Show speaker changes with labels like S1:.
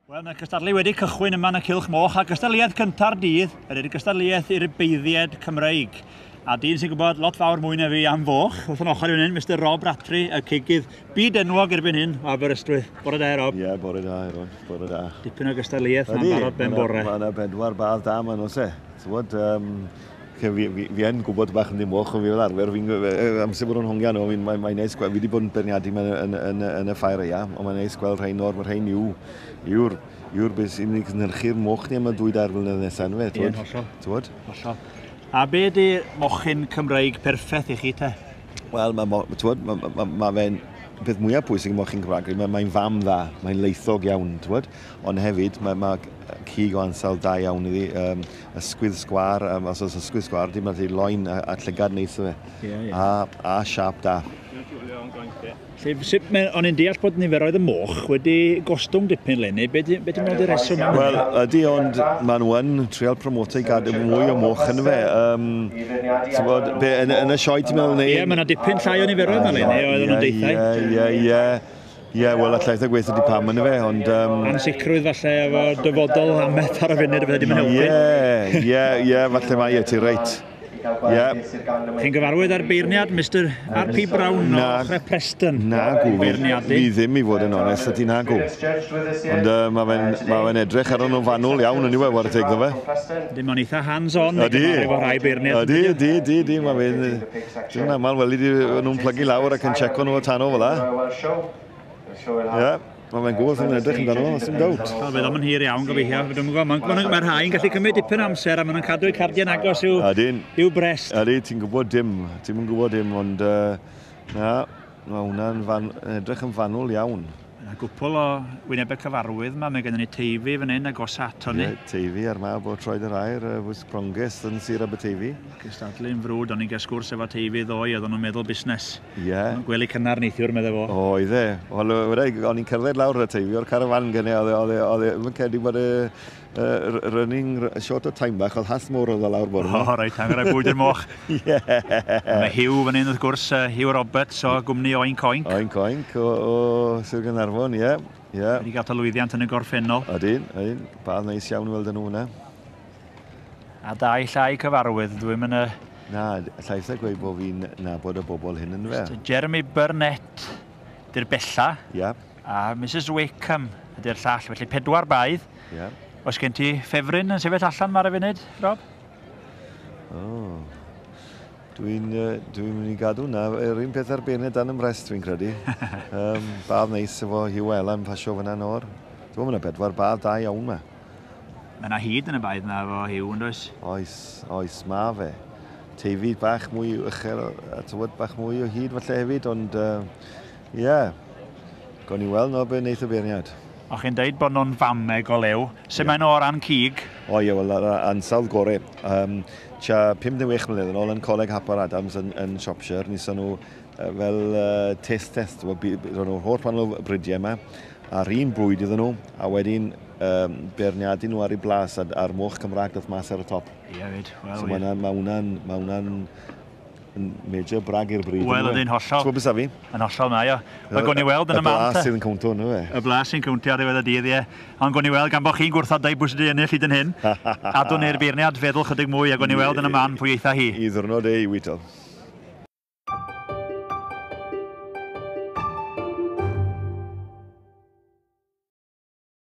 S1: Wel, mae cystadlu wedi cychwyn yma yn y Cilch Moch a gystadliaeth cynta'r dydd yr i'r gystadliaeth i'r beiddied Cymreig. A dyn sy'n gwybod lot fawr mwy na fi am foch, wrth yn ochr i hyn, Mr Rob Ratri, y cigydd byd enwog erbyn hyn o Aberystwyth. Bore da, Rob. Ie, yeah, bore da, Eron.
S2: Bore da. Dipyn o gystadliaeth
S1: yna'n barod ben bore. Mae yna bedwar badd
S2: da ma'n os e. Tywod, um, Fi, fi, fi, fi yn gwybod bach yn ddim moch, ond fi fel arfer, fi'n amser bod o'n hongian nhw, mae'n mae neis gweld, fi wedi bod yn berniadu mewn yn, yn, yn, y ffair eia, ond mae'n neis gweld rhain nawr, mae rhain yw, yw'r, yw'r beth sy'n ei gynhyrchu'r moch ni am y dwy dair mlynedd nesaf, ynddo fe, ti'n Ie, hollol. Ti'n Hollol. A be di
S1: mochyn Cymraeg perffaith i chi te? Wel, mae ma,
S2: ma, ma, ma, ma fe'n peth mwyaf pwysig yn mochyn Cymraeg, mae'n mae fam dda, mae'n leithog iawn, ti'n Ond hefyd, mae, mae cig o ansawdd da iawn iddi. Um, ysgwydd sgwar, um, os oes ysgwydd sgwar, dim ond loen a, a llygad neis o fe. Yeah, yeah. A, a siap da. Lle, sut
S1: mae, o'n i'n deall bod niferoedd y moch wedi gostwng dipyn lenni, be ti'n meddwl wedi reswm? Wel, ydy, ond
S2: maen nhw yn trial promoto i gadw mwy o moch yn fe. Um, bod, be, yn, yn y sioe ti'n meddwl? Ie, yeah, mae yna dipyn llai o
S1: niferoedd yma lenni, oedd nhw'n deithau. Ie, ie, ie. Ie, yeah, wel,
S2: allai eitha gweithio di pam yn y fe, ond... Um... Ansicrwydd falle
S1: efo dyfodol am beth ar y funud, fydde ddim yn helpu. Ie, ie, ie, falle
S2: mae ie, ti reit. Ie.
S1: Chi'n gyfarwydd â'r beirniad Mr R.P. Brown o Chre Preston? Na, gw, fi
S2: ddim i fod yn onest, a ti'n hagw. Ond uh, mae fe'n ma fe edrych ar o'n fanwl iawn yn iwe, war teg fe. Dim ond eitha hands-on
S1: i gyfarwydd efo rhai beirniad. Ydy, ydy, ydy, mae
S2: fe'n... Dwi'n aml weli di nhw'n plygu lawr ac yn checo nhw o tano fel la. Ie, mae fe'n gwybod sy'n edrych yn dano, sy'n dawt. Wel, fe ddim yn hir iawn,
S1: gobeithio. Mae rhai'n gallu cymryd dipyn amser a maen nhw'n cadw eu cardiau'n agos i'w, i'w brest. Adi, ti'n gwybod dim,
S2: ti'n gwybod dim, ond uh, na, mae hwnna'n edrych yn fanwl iawn. Mae yna gwpl o
S1: wynebau cyfarwydd yma. Mae gennym ni Teifi fan hyn, agosaf ato ni. Ie, Teifi a'r mab o
S2: Troed yr Aur, yy, Fus Pronges yn Sir Aberteifi. Cystadlu'n frwd,
S1: o'n i'n cael sgwrs efo Teifi ddoe, oedden nhw'n meddwl busnes. Ie. O'n nhw'n gwely
S2: cynnar neithiwr,
S1: meddai fo. O, oedd e. Wel, yy,
S2: wna i, o'n i'n cerdded lawr y Teifi o'r carafan gynne, oedd e, oedd e, oedd e, ddim yn credu bod y Yy, running, short o time bach, oedd hath mor oedd o lawr bore ma. O, reit, hangar y bwyd i'r moch.
S1: Ie. Mae Hugh fan hyn, wrth gwrs, Hugh Roberts o gwmni Oink Oink. Oink Oink, o, o
S2: Sir Gynarfon, ie. Ie. Wedi gael ta
S1: lwyddiant yn y gorffennol. Ydyn, ydyn.
S2: Bad neis iawn weld yn nhw hwnna.
S1: A da i llai cyfarwydd, dwi'n mynd y... Na, llaeth
S2: a gweud bod fi'n nabod y bobl hyn yn fe. Jeremy Burnett,
S1: dy'r bella. Ie. A
S2: Mrs
S1: Wakeham, ydy'r llall. Felly pedwar baedd. Ie. Oes gen
S2: ti
S1: ffefryn yn sefyll allan yma ar y funud, Rob? O.
S2: Dwi'n uh, dwi mynd i gadw na. Yr un peth arbennig dan ymrest, fi'n credu. um, badd neis efo Hugh Ella yn pasio fyna nawr. Dwi'n meddwl, yna bedwar badd da iawn yma. Mae yna
S1: hyd yn y baedd yna efo Hugh, yn oes? Oes, oes, ma
S2: fe teifi bach mwy uchel, a tywod bach mwy o hyd falle hefyd, ond uh, Ie. Yeah. Gawn ni weld nawr be wneith y beirniad. O'ch chi'n deud bod
S1: nhw'n fameg o lew. Sut yeah. maen nhw o ran cig? O ie, wel, yr
S2: ansawdd gore. Um, tua 56 mlynedd yn ôl yn Coleg Hapar Adams yn, yn Shropshire, nison nhw uh, fel uh, test test. Roedd nhw'r holl pan nhw'r bridiau yma, a'r un bwyd iddyn nhw, a wedyn um, berniadu nhw ar ei blas a'r moch Cymraeg doth mas ar y top. Ie, yeah,
S1: fyd. Well, so
S2: mae hwnna'n ma ma ma Yn major brag i'r bryd. Wel, ydy'n hollol. Ti'n gwybod beth
S1: fi? Yn hollol,
S2: mae o.
S1: Mae gwn i weld yn y man. Y blas sy'n cwntio hwnnw, e.
S2: Y blas sy'n cwntio ar ddiwedd
S1: y dydd, ie. Ond gwn i weld, gan bod chi'n gwrthod dau bwys wedi ennill hyd yn hyn, adwn i'r
S2: beirniad
S1: feddwl chydig mwy
S2: a
S1: gwn i weld yn y man pwy eitha hi. I ddwrnod ei wyto.